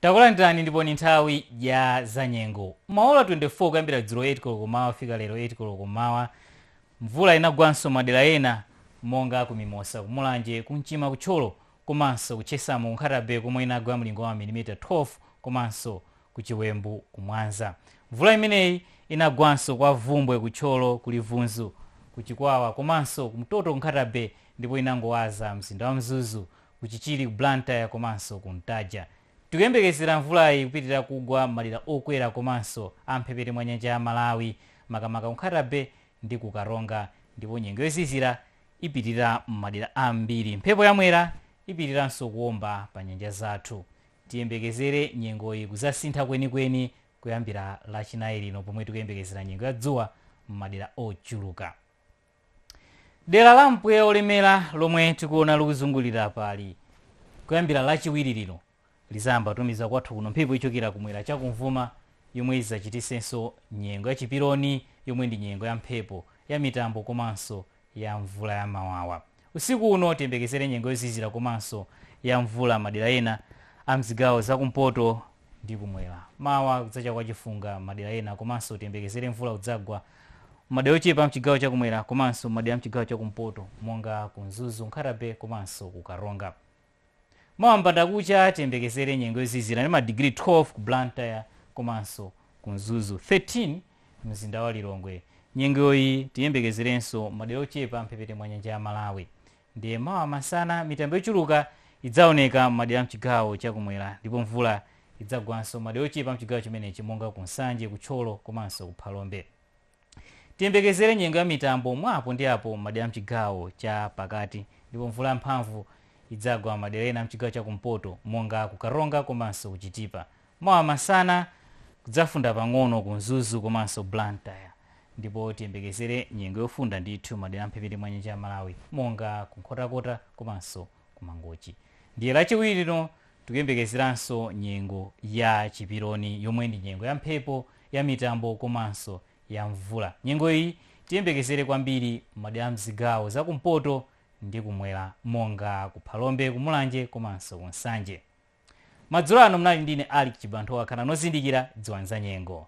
takulandirani ndipo ni nthawi ya zanyengo maola 24 kuyambira dzulo 8 koloko mmawa kufika lero 8 koloko mmawa mvula inagwanso madera ena monga ku mimosa ku mulanje ku nchima ku thyolo komanso ku Chesamu ku Nkhata Bay komwe inagwa mlingo wa mamilimita 12 komanso ku Chiwembu ku Mwanza. Mvula imeneyi inagwanso kwa Bvumbwe ku Thyolo, ku Livunzu ku Chikwawa komanso ku Mtoto ku Nkhata Bay ndipo inangowaza mzinda wa Mzuzu, ku Chichiri ku Blantyre komanso ku Ntaja. Tikuyembekezera mvulayi kupitirira kugwa m'madera okwera komanso a m'mphepete mwa nyanja ya Malawi makamaka ku Nkhata Bay ndi ku Karonga ndipo nyengo yozizira ipitirira m'madera ambiri. Mphepo ya Mwera ipitiriranso kuomba pa nyanja zathu. Tiyembekezere nyengoyi kuzasintha kwenikweni kuyambira Lachinayi lino pomwe tikuyembekezera nyengo ya dzuwa m'madera ochuluka. Dera la mpweya wolemera lomwe tikuona likuzungulira apali kuyambira Lachiwiri lino lizayamba kutumiza kwathu kuno mphepo yochokera kumwera chakumvuma yomwe izachitisenso nyengo ya chiperoni yomwe ndi nyengo ya mphepo ya mitambo komanso ya mvula ya mawawa. Usiku uno tiyembekezere nyengo yozizira komanso ya mvula madera ena a mzigawo za kumpoto ndi kumwera. Mawa kudzacha kwa chifunga madera ena komanso tiyembekezere mvula kudzagwa madera ochepa mchigawo cha kumwera komanso madera mchigawo cha kumpoto monga ku Mzuzu, Nkhata Bay komanso ku Karonga. Mawa m'mbandakucha tiyembekezere nyengo yozizira ndi ma digiri 12 ku Blantyre komanso ku Mzuzu, 13 mumzinda wa Lilongwe. Nyengoyi tiyembekezerenso m'madera ochepa a m'mphepete mwa nyanja ya Malawi. Ndiye mawa masana mitambo yochuluka idzaoneka m'madera a m'chigawo cha kumwera ndipo mvula idzagwanso m'madera ochepa a m'chigawo chimenechi monga ku Nsanje, ku Thyolo komanso ku Phalombe. Tiyembekezere nyengo ya mitambo mwa apo ndi apo m'madera a m'chigawo cha pakati ndipo mvula ya mphamvu idzagwa madera ena a m'chigawo cha kumpoto monga ku Karonga komanso ku Chitipa. Mawa masana kudzafunda pang'ono ku Mzuzu komanso Blantyre ndipo tiyembekezere nyengo yofunda ndithu madera a m'mphepete mwa nyanja ya Malawi monga ku Nkhotakota komanso ku Mangochi. Ndiye lachiwiri lino tikuyembekezeranso nyengo ya chiperoni yomwe ndi nyengo ya mphepo, ya mitambo komanso ya mvula. Nyengo iyi tiyembekezere kwambiri m'madera a m'zigawo za kumpoto ndi kumwera monga ku Phalombe, ku Mulanje komanso ku Nsanje. Madzulo ano munali ndi ine Alick Chibanthowa khalani ozindikira dziwani zanyengo.